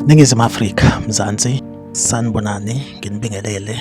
Ningizimu Afrika Mzansi sanibonani nginibingelele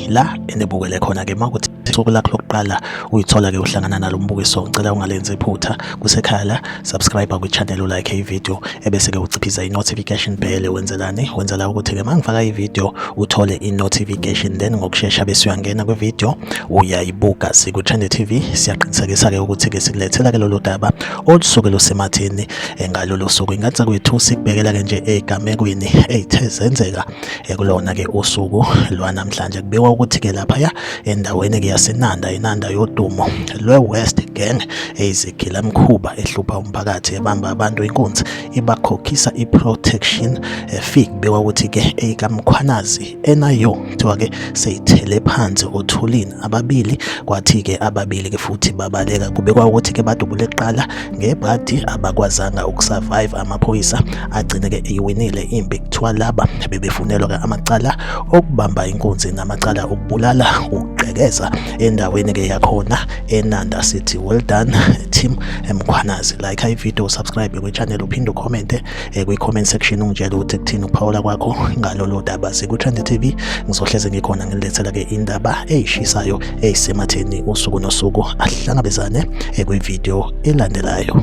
la enibukele khona ke makuthi usuku lakho lokuqala uyithola ke uhlangana nalo mbukiso ngicela ungalenzi iphutha kusekhaya la subscribe kwi channel u like ivideo ebese ke uciphiza i notification bell wenzelani wenzela ukuthi ke mangifaka ivideo uthole i notification then ngokusheshsha bese uyangena kwi video uyayibuka siku Trend TV siyaqinisekisa ke ukuthi ke sikulethela ke lolu daba olusuke lusemathini eh, ngalolu suku ingathi kwethu sikubekela ke nje egamekweni ethe zenzeka ekulona ke usuku lwanamhlanje kubikwa ukuthi ke laphaya endaweni ke yasenanda inanda yodumo lwe-west gang eyizigila mkhuba ehlupha umphakathi ebamba abantu inkunzi ibakhokhisa i-protection eh, fee kubikwa ukuthi ke eyikamkhwanazi enayo kuthiwa ke seyithele phansi othulini ababili kwathi-ke ababili-ke futhi babaleka kubekwa ukuthi-ke badubule kuqala ngebhadi abakwazanga ukusurvive amaphoyisa agcine-ke eyiwinile impi kuthiwa laba bebefunelwa-ke amacala okubamba inkunzi namacala okubulala ukugqekeza endaweni-ke yakhona enanda sithi well done team emkhwanazi like ivideo subscribe kwichannel uphinde ukhomente eh, kwi-comment section ungitshela ukuthi kuthini ukuphawula kwakho ngalolu daba siku-trend tv ngizohleze ngikhona ngilethela-ke indaba eyishisayo eyisematheni usuku nosuku ahlangabezane eh, kwividiyo elandelayo